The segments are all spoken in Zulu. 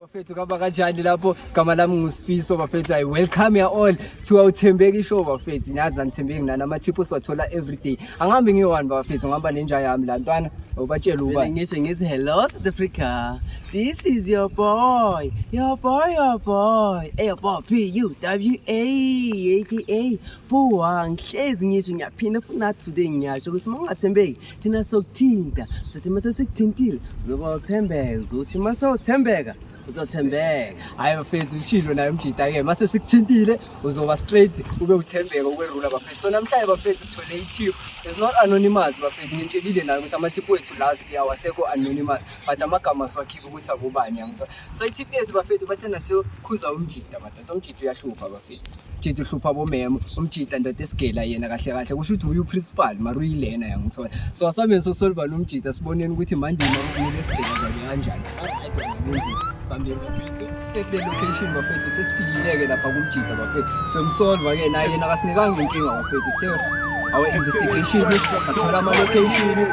Bafethu kaba kanjani lapho gama lami ngusifiso bafethu i welcome you all to our Thembeki show bafethu nyazi anithembeki nani ama tips wathola every day angihambi ngiwani bafethu ngihamba nenja yami la ntwana ubatshela uba ngisho ngithi hello South Africa this is your boy your boy your boy hey your boy P U W A A K A Buwa ngihlezi ngisho ngiyaphinda futhi today ngiyasho ukuthi mangathembeki thina sokuthinta sothi uma sesikuthintile uzoba uthembeke uzothi uma sewuthembeka uzothembeka hhayi bafethu ushilo naye umjita-ke uma sesikuthintile uzoba straight ube uthembeka ukwerula bafethu so namhlanje bafethu sithole i-tip is not anonymous bafethu ngintshelile nayo ukuthi ama-tip wethu last year wasekho anonymous but amagama siwakhiphe ukuthi akubani yangithola so i-tip yethu bafethu bathena siyokhuza umjita umjita uyahlupha bafethu umjita uhlupha bomemo umjita ndoda esigela yena kahle kahle kusho ukuthi uye uprincipal mara uyilena yangithola so asameni sosolivana umjita siboneni ukuthi mandima kumele esigela zane kanjani sambeni bafethu the location bafethu sesifikile-ke lapha kumjita bafethu so msolva-ke naye yena akasinikanga inkinga bafethu sithe our investigation sathola ama-location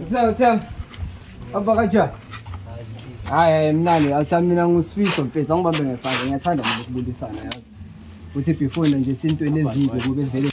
Utham, utham. Abakaja. Hayi mnani, awutham mina ngusifiso mfethu, angibambe ngesandla, ngiyathanda nje ukubuyisana yazi. Uthi before nje sintweni ezidle kube vele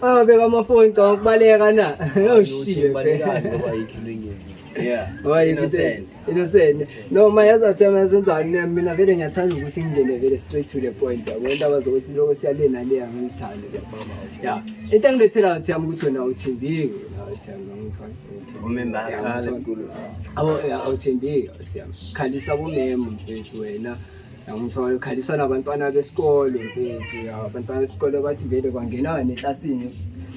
Ababeka amafoni ngicabanga ukubaleka na. Oh shit. Balekani ngoba yikho lengenzi. Yeah. Ngoba innocent. Innocent. No ma yazi athema yasenzani mina mina vele ngiyathanda ukuthi ngingene vele straight to the point. Yabo indaba zokuthi lokho siyalena le angithandi ke mama. Yeah. Into engilethela uthi yami ukuthi wena uthembile. Uthi yami ngangithwala. Umemba akhala esikolweni. Abo awuthembile uthi yami. Khalisa kumema mfethu wena. Ngiyamthola ukhalisa nabantwana besikole mfethu ya abantwana besikole bathi vele kwangena neklasini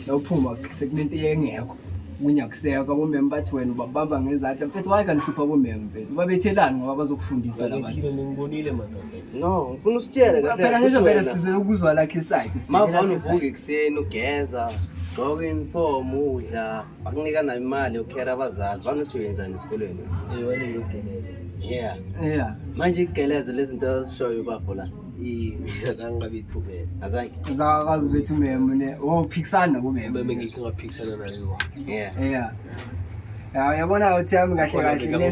nophuma sekunento engekho kunyakuseka bomeme bathi wena ubabamba ngezandla mfethu waye kanihlupha bomeme mfethu babethelani ngoba bazokufundisa labantu ngibonile madoda no ngifuna usitshele kahle phela ngisho vele size ukuzwa lakhe side mavona uvuka ekuseni ugeza gqoka uniform udla bakunika nayo imali yokukhera abazali banothi uyenzani esikolweni yeah yeah manje igeleze lezinto azishoyo ubafo la azange babe ithumele azange azakazi bethu umemo ne wophikisana nabo memo meme ngikhe ngaphikisana nayo yeah yeah yabona uthi yami kahle kahle ne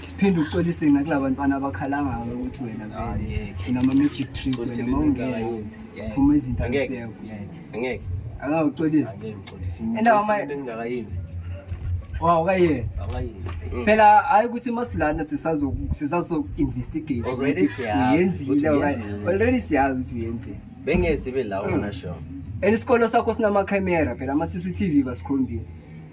phinde uxolise nakulaba bantwana abakhalangaka ukuthi wena ah, vele unama-magic trick wena ma ungena phuma izinto azisekho angeke angawuxolisi wawukayenza mm. phela hhayi ukuthi masilana sisazo-investigate ukuthi uyenzile already siyazi ukuthi uyenzile bengeke sibe lawo mm. nasho and isikolo sakho sinama-camera phela ama-c c t v basikhombile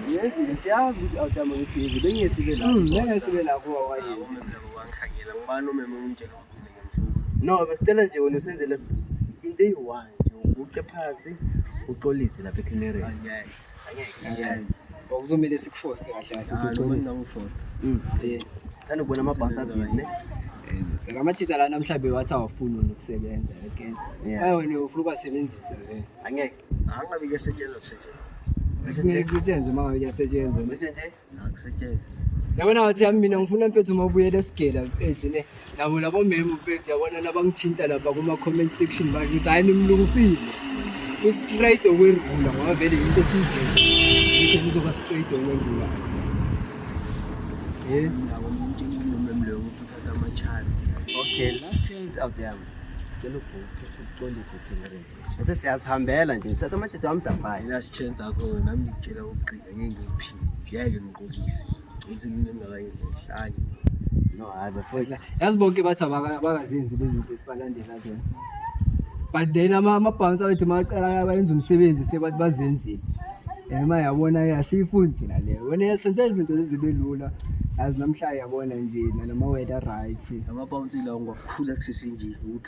Ngiyenzi ngesiyazi ukuthi awutama ukuthi yenze bengethi ibe la. Mm, bengethi ibe la kuwa wayenza. Wangikhangela ngibani umeme umtshela ukuthi ngenza. No, besitshela nje wena usenzele into eyi-one nje uguqe phansi uxolise lapha ecanary okuzomele sikufoste kahle kahlethanda ukubona amabhansi avile la majita lana mhlawumbe wathi awafuni wena ukusebenza again wena ufuna ubasebenzisa angeke Angabe kuyasetshenzwa kusetshenzwa. Ngeke kusetshenzwe uma ngabe kuyasetshenzwa. Ngisho nje akusetshenzwe. Yabona wathi yami mina ngifuna mfethu uma ubuyela esigela mfethu ne. Nabo labo memo mfethu yabona nabangithinta lapha kuma comment section bathi ukuthi hayi nimlungisile. Ustraight okwerula ngoba vele into esizweni. Ukuthi kuzoba straight okwerula. Yeah. Nabo umuntu inginombolo mleyo ukuthi uthatha ama chance. Okay, last chance out there. Ke lokho ke uqondise phela. Ngithe siyazihambela nje. Thatha amajeje wami siyabhaya. Mina sitsheni zakho wena nami ngitshela ukugcina ngeke ngiziphile. Ngeke ngiqolise. Ngizwe ngingakayenzi ngihlanye. No hayi bafowethu. Yazi bonke bathi abaka- abakazenzi bezinto esibalandela zona. But then ama- amabhansa wethu macala abayenza umsebenzi sebathi bazenzile. And uma yabona ke asiyifundi thina le. Wena senze izinto zibe lula. Yazi namhlanje yabona nje noma wethu right. Amabawunsile awungakhula kusese nje ukuthi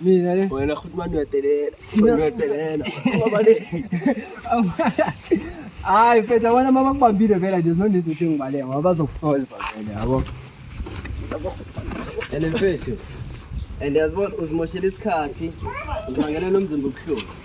Mina le. Wena futhi manje uyadelela. Uyadelela. Ngoba le. Hayi mfethu abona mama kubambile vela nje no need ukuthi ngibaleke ngoba bazokusolve vele yabo. And mfethu. And yazibona uzimoshela isikhathi. Uzibangela nomzimba ubuhlungu.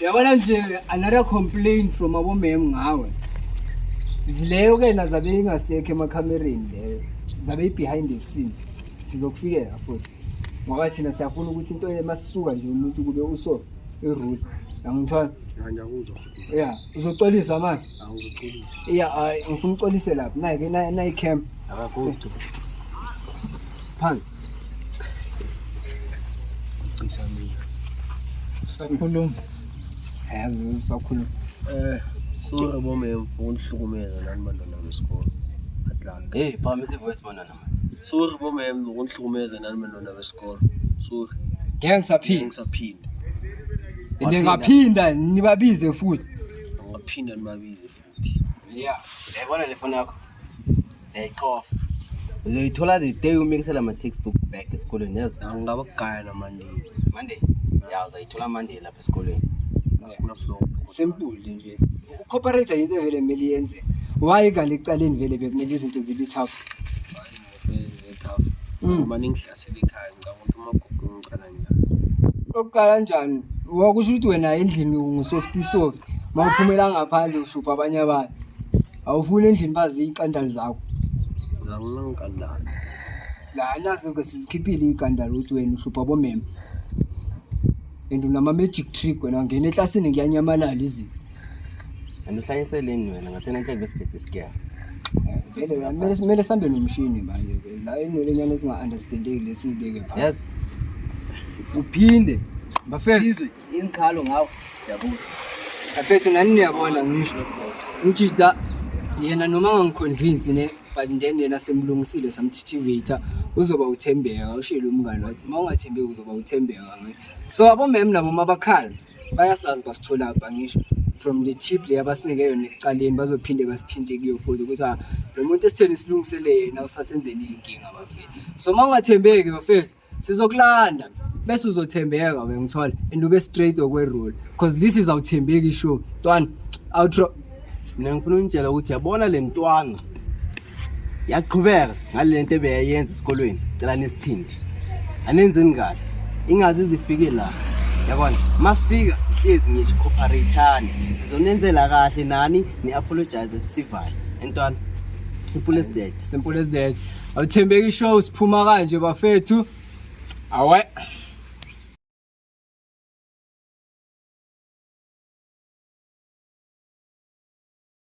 yabona nje another complaint from abomem ngawe leyo ke na zabe ingasekho emakhamereni leyo zabe i-behind the scene sizokufikela futhi ngoba thina siyafuna ukuthi into emasuka nje umuntu kube uso irule yangithola ya uzoxolisa manje ya ngifuna uxolise lapho nayi-ke nayi-camp phansi Sakhuluma. Yazi sakhuluma. Eh, sorry bomem, ukunihlukumeza nani bantwana besikole. Atlanga. Hey, phamisa ivoice bantwana. Sorry bomem, ukunihlukumeza nani bantwana besikole. Sorry. Ngeke ngisaphinde. Ngisaphinde. Ngingaphinda nibabize futhi. Ngaphinda nibabize futhi. ya yayibona le foni yakho siyayiqofa uzoyithola the day umikisela ama-textbook back esikolweni yazi angingaba kugaya namandiya monday ya uzayithola monday lapha esikolweni simple nje ucooperate yinto vele kumele yenze why kanti ekucaleni vele bekumele izinto zibe tough uma ningihlasela ikhaya ngicabanga ukuthi umagugu ngicala njani okuqala njani wakusho ukuthi wena endlini ngusofty soft ma uphumela ngaphandle uhlupha abanye abantu awufuni endlini bazi iy'kandali zakho nanginangikandali la nazo-ke sizikhiphile iy'kandali ukuthi wena uhlupha bomema and unama-magic trick wena ngena eklasini kuyanyamalala izinto and uhlayiseleni wena ngathi nenhleke besibhebhe isigeya kumele sihambe nomshini manje la inwele nyana ezinga-understandeki lesi zibeke phasi uphinde bafezwe ingikhalo ngawo siyabuza afethu nani niyabona ngisho ngithi la yena noma angangiconvince ne but then yena semlungisile samthithivator uzoba uthembeka ushilo umngane wathi uma ungathembeki uzoba uthembeka so abomem nabo mabakhala bayasazi basithola bhangisha from the tip le abasinike yona ekuqaleni bazophinde basithinte kuyo futhi ukuthi ah, lo muntu esitheni silungisele yena usasenzeni iy'nkinga bafethu so uma ungathembeki bafethu sizokulanda bese uzothembeka we ngithole and ube straight okwerule because this is awuthembeki sure ntwana outro mina ngifuna unitshela ukuthi yabona le ntwana yaqhubeka ngale nto ebeyayenza esikolweni cela nesithindi anenzeni kahle ingazi zifike la yabona uma sifika hlezi ngisho cooperate-ani sizonenzela kahle nani ni-apologize sivale entwana simple as that simple as that awuthembeki ishow siphuma kanje bafethu awe